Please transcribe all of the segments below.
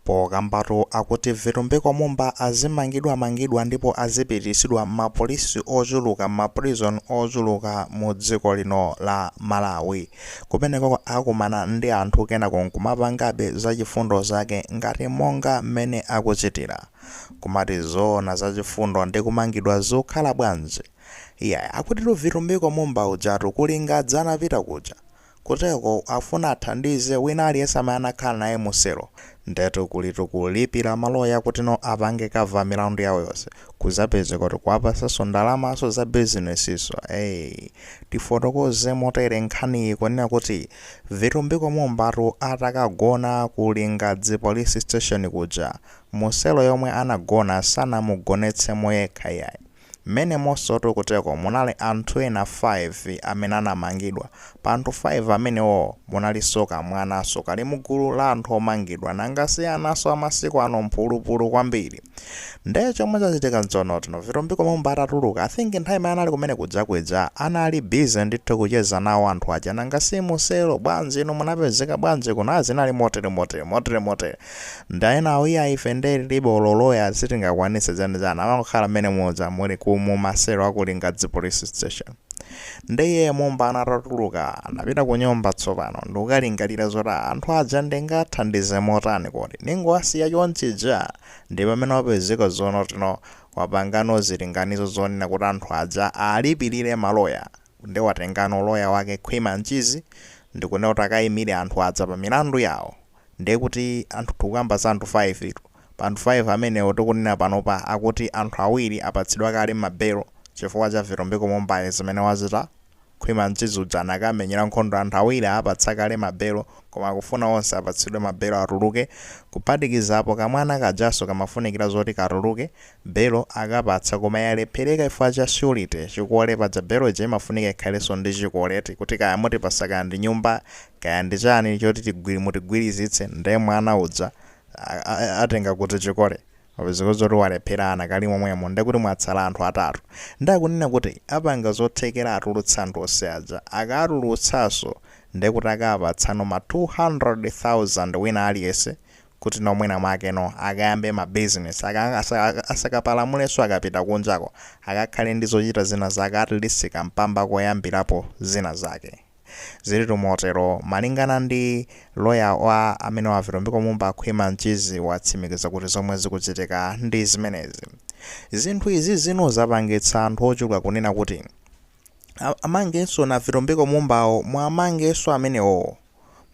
Pokambatu akuti Vitumbiko Mumba azimangidwamangidwa ndipo azipitisidwa mma police ochuluka mma prison ochuluka mu dziko lino la Malawi. Kumenekoko akumana ndi anthu kenako nkumapangabe za chifundo zake ngati monga mmene akuchitira. Kumati zoona za chifundo ndi kumangidwa zikukhala bwanji? Iyayi akutitu Vitumbiko Mumba ujatu ku Lingadzi anapita kuja. Kuteroko afuna athandize wina aliyense amene anakhala naye mu cell. Ndetu kulitu kulipira ma lawyer kutino apange cover milandu yawo yonse. Kuzapezeka kuti kuwapasanso ndalamanso za business nso eeh. Tifotokoze motere nkhaniyi ikunena kuti Vitumbiko Mumbatu atakagona ku Lingadzi police station kuja, mu cell yomwe anagona sanamugonetsemo yekha iyayi. Mmenemonsotu kuteko munali anthu ena 5 amene anamangidwa. Pa anthu 5 amenewowo munalinso kamwananso kali mugulu la anthu omangidwa. Nanga si ananso a masiku ano mphulupulu kwambiri. Nde chomwe chachitika nchonotino Vitumbiko Mumba atatuluka I think nthawi imene anali kumene kuja kuija anali busy ndithu kucheza nawo anthu aja nanga si mu cell bwanji inu munapezeka bwanji kuno ah zinali motere motere motere motere. Nde enawo iyayi ife nde tilibe olo lawyer sitingakwanise zanizani amangokhala mmene muja muli ku mu ma cell aku Lingadzi police station nde iyeyo Mumba atatuluka anapita ku nyumba tsopano ndikukalingalira zoti anthu aja ndingathandize motani kodi ndingowasiya chonchija nde pamene wapezeka zonotino wapangano zilinganizo zonena kuti anthu aja alipilire ma lawyer nde watengano lawyer wake Khwima Mchizi ndikunena kuti akayimile anthu aja pa milandu yawo Ndiye kuti anthu tikukamba za anthu 5 tu. Pa anthu 5 amenewo tikunena panopa akuti anthu awiri apatsidwa kale ma bail chifukwa cha Vitumbiko Mumba zimene wachita. Khwima Mchizi uja anakamenyera nkhondo anthu awiri aapatsa kale ma bail koma akufuna onse apatsidwe ma bail atuluke kuphatikizapo kamwana kajanso kamafunikira zoti katuluke Belo akapatsa koma yalephereka chifukwa cha surety, chikole, paja belo ija imafunika ikhalenso ndi chikole eti, kuti kaya mutipatsa kaya ndi nyumba kaya ndi chani choti tigwiri mutigwirizitse nde mwana uja atenga kuti chikole wapezeka zoti walephera anakali momwemo nde kuti mwatsala anthu atatu nde akunena kuti apanga zothekera atulutse anthu onse aja, akatulutsanso nde kuti akapatsano ma 200,000 wina aliyense kuti no mwina mwake no akayambe ma business aka asa, asakapalamulenso akapita kunjako akakhale ndi zochita zina zake at least kampamba koyambirapo zina zake zilitu motero malingana ndi loya wa amenewa Vitumbiko Mumba Khwima Mchizi watsimikiza kuti zomwe zikuchitika ndi zimenezi zinthu izizi no zapangitsa anthu ochuluka kunena kuti a- amangenso na Vitumbiko Mumbawo mwamangenso amenewowo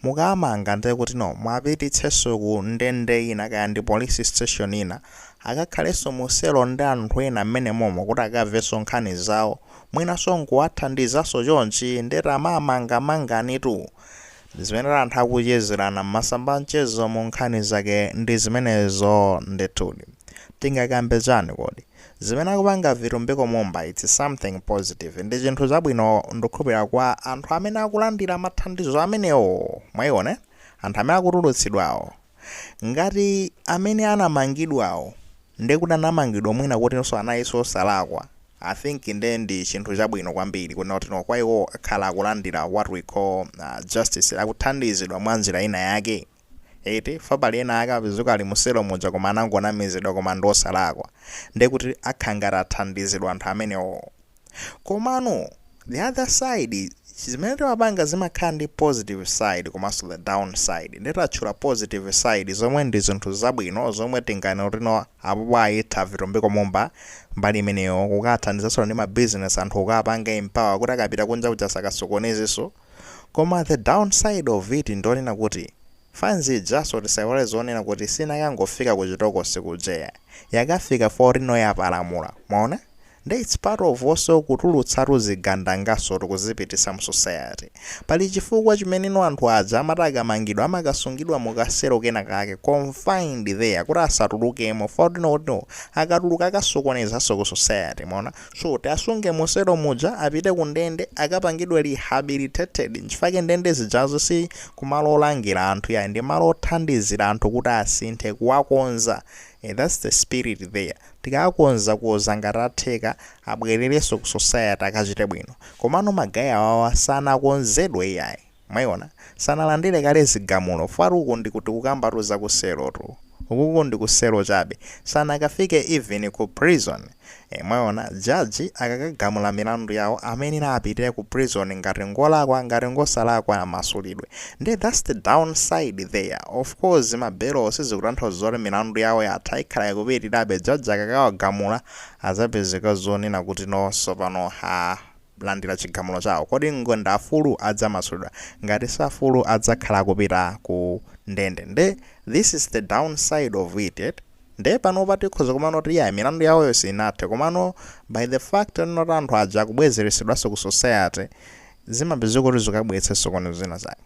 mukaamanga nde kuti no mwapititsenso ku ndende ina kaya ndi police station ina akakhalenso mu selo ndi anthu ena mmene momo kuti akamvenso nkhani zawo mwinanso nkuwathandizanso chonchi ndiye tamaamanga manganitu zimene anthu akuchezerana mmasamba a mchezo mu nkhani zake ndi zimenezo ndithudi tingakambe chani kodi Zimene akupanga Vitumbiko Mumba it's something positive, ndi chinthu chabwino ndukhulupilira kwa anthu amene akulandira mathandizo amenewo, mwaiona anthu amene akutulutsidwawo, ngati amene anamangidwawo ndi kuti anamangidwa mwina kutinso analinso osalakwa, I think nde ndi chinthu chabwino kwambiri kuti no kwa iwowo akhala akulandira what we call justice, akuthandizidwa mwa njira ina yake. Eti, fa pali ena ake apezuka ali mu selo muja koma anangonamizidwa koma ndi osalakwa. Nde kuti akhala ngati athandizidwa anthu amenewoo. Komano the other side zimene timapanga zimakhala ndi positive side komanso the down side. Nde tatchula positive side zomwe ndi zinthu zabwino zomwe tinganene kuti no apopo ayitha Vitumbiko Mumba mbali imeneyoo. Kukawathandizanso ndi ma business anthu kukawapanga empower kuti akapita kunja kuja asakasokonezenso. Koma the down side of it ndi yonena kuti fans ijaso tisaiwale zonena kuti sinakangofika ku chitokosi kuja yayi, yakafika fa kuti no yapalamula, mwaona? Nde its part of also kutulutsatu zigandangaso tikuzipitisa mu society. Pali chifukwa chimene no anthu aja amati akamangidwa amakasungidwa mu ka selo kena kake, confined there, kuti asatulukemo fa kuti no akatuluka akasokonezaso ku society, mwaona? So tiasunge muselo muja apite ku ndende akapangidwe rehabilitated nchifake ndende zijazo si kumalo olangira anthu yayi ndi malo othandizira anthu kuti asinthe kuwakonza ee that's the spirit there tikawakonzakonza ngati atheka abwererenso ku society akachite bwino komano ma guy awawa sanakonzedwe iyayi. Mwayiona sanalandire kale zigamulo fa ukuku ndi kuti tikukambatu zaku selo tu ukuku ndiku selo chabe sanakafike even ku prison ee mwaona judge akakagamula milandu yawo amayenera apite ku prison ngati ngolakwa ngati ngosalakwa amasulidwe nde that's the down side there of course ma belowo sizikutanthauza zoti milandu yawo yatha ikhala ikupitirabe judge akakawagamula adzapezeka zonena kuti no tsopano aah landira chigamulo chawo. Kodi ng ndi amfulu? Adzamasulidwa. Ngati si amfulu adzakhala akupita ku ndende. Nde this is the down side of it eti. Nde panopa tikhoza kumaona kuti yeah milandu yawoyo sinathe komano by the fact yonena kuti anthu aja akubwezeretsedwanso ku society zimapezeka kuti zikukabweretsa zisokonezo zina zake.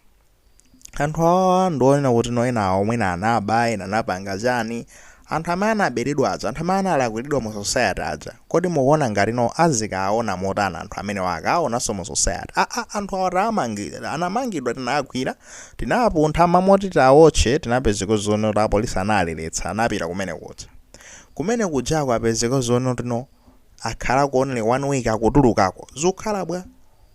Anthu awawa ndi onena kuti no ena awo mwina anaba, ena anapanga chani. Anthu amene anaberedwa aja, anthu amene analakwiridwa mu society aja, kodi mukuona ngati no azikawaona motani anthu amenewa akawaonanso mu society? Aa anthu awa tawamangirira, anamangidwa tinawagwira, tinawapuntha kumamoti tiawotche tinapezeka zoona kuti apolisi anawaletsa, anapita kumene kuja. Kumene kujako apezeka zoona kuti no. akhalako only 1 week akutulukako zikukhala bwa?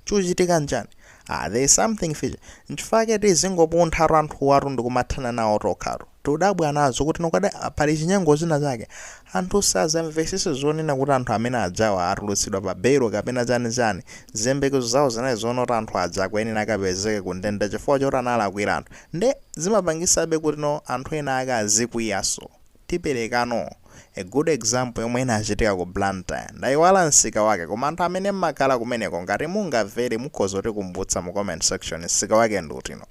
chikuchitika nchani? ah there is something fishy nchifukwa chake tizingopunthatu anthuwatu ndikumathana nawo tokhatu. tudabwa nazo kuti no kapena pali chinyengo china chake anthu sazamvesese zonena kuti anthu amene ajawa atulutsidwa pa belo kapena chani chani. ziyembekezo zawo zinali zoona kuti anthu aja akuyenera akapezeke ku ndende chifukwa choti analakwira anthu nde zimapangisabe kuti no anthu ena ake azikwiyaso. tiperekano a good example yomwe inachitika ku Blantyre ndaiwala msika wake koma anthu amene mmakhala kumeneko ngati mungamvere mukhoza kutikumbutsa mu comment section msika wake ndi uti no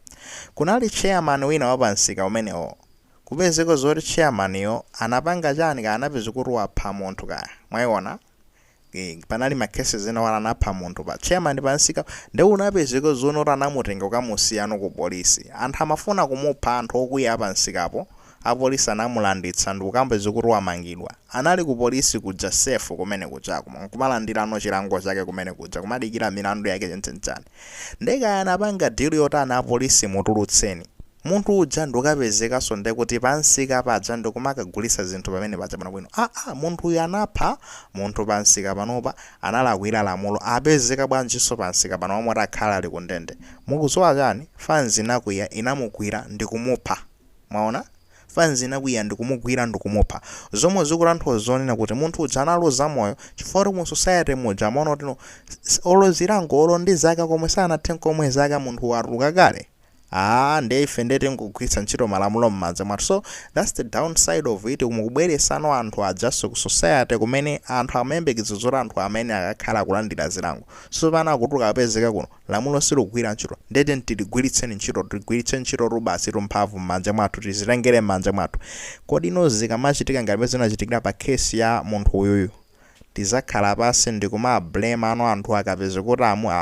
kunali chairman wina wa pa msika umenewo kupezeka zoti chairman yo anapanga chani kaya anapezeka kuti wapha munthu kaya mwaiona Eh, panali ma case ena awa anapha munthu pa chairman pansika nde unapezeka zoona zoti anamutenga kukamusiyano ku polisi anthu amafuna kumupha anthu okwiya pansikapo apolisi anamulanditsa ndikukamba zakuti wamangidwa anali ku polisi kuja safe kumene kujako nkumalandirano chilango chake kumene kuja kumadikira milandu yake chani chani nde kaya anapanga deal yotani apolisi mutulutseni Munthu uja ndikukapezekanso nde kuti pa msika paja ndikumakagulitsa zinthu pamene paja bwinobwino. Aaa munthuyu anapha munthu pa msika panopa analakwira lamulo apezeka bwanjinso pa msika panopa moti akhale ali ku ndende. Mukudziwa chani? Fanzi inakwiya inamugwira ndikumupha. Mwaona? Fanzi inakwiya ndikumugwira ndikumupha. Zomwe zikutanthauza zonena kuti munthu uja analuza moyo chifukwa choti mu society muja amaona kuti no olo zilango olo ndi zaka zomwe sanathe nkomwe zaka munthu watuluka kale. Aaa nde ife nde tingogwiritsa ntchito malamulo mmanja mwathu so that's the down side of it kumubweresano anthu ajaso ku society kumene anthu amayembekezera zoti anthuwa amayenera akakhala akulandira zilango sopano akutuluka akupezeka kuti no lamulo silukugwira ntchito nde tiyeni tiligwiritseni ntchito tigwiritse ntchitotu basitu mphamvu mmanja mwathu tizitengere mmanja mwathu kodi no zikamachitika ngati mmene zinachitikira pa case ya munthu uyuyu tizakhala pasi ndikuma blame ano anthu akapeze kuti amu a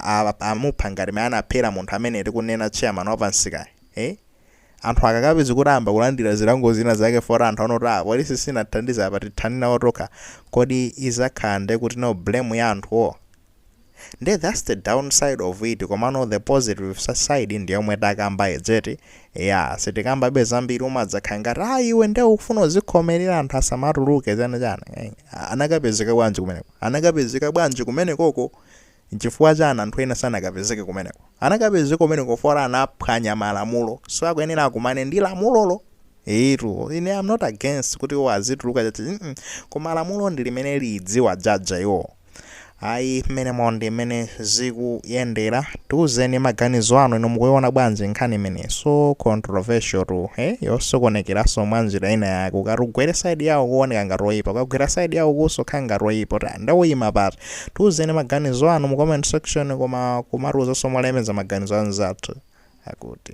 a a amupha ngati mmene anaphera munthu amene tikunena chairman wa pansikayi ee anthu akakapeze kuti ayamba kulandira zilango zina zake poti anthu aona kuti aa polisi sinathandize apa tithane nawo tokha kodi izakhala nde kuti no blame ya anthuwo Nde thats the down side of it komano the positive side ndi yomwe takamba ija yeti eyaa sitikambabe za mbiri umadzakhala ngati aa iwe nde ukufuna uzikhomelera anthu asamatuluke chani chani eh, anakapezeka bwanji kumeneko anakapezeka bwanji kumenekoko nchifukwa chani anthu ena sanakapezeke kumeneko anakapezeka kumeneko for anaphwanya malamulo so akuyenera akumane ndi lamulolo Etu, ine I'm not against kuti iwo azituluka chani mm-mm. koma lamulo ndi limene liziwajaja iwo ayi mmenemu ndi mmene zikuyendera tiuzeni maganizo anu ino mukuiona bwanji nkhani imene so controversial tu he yosokonekeranso mwa njira ina yake ukati ugwere saidi yawo kuoneka ngati oyipa ukagwera saidi yawo kunso kukhala ngati oyipa kuti ndiye uyima pati tiuzeni maganizo anu mu comment section koma kumatiuzanso molemeza maganizo anzathu akuti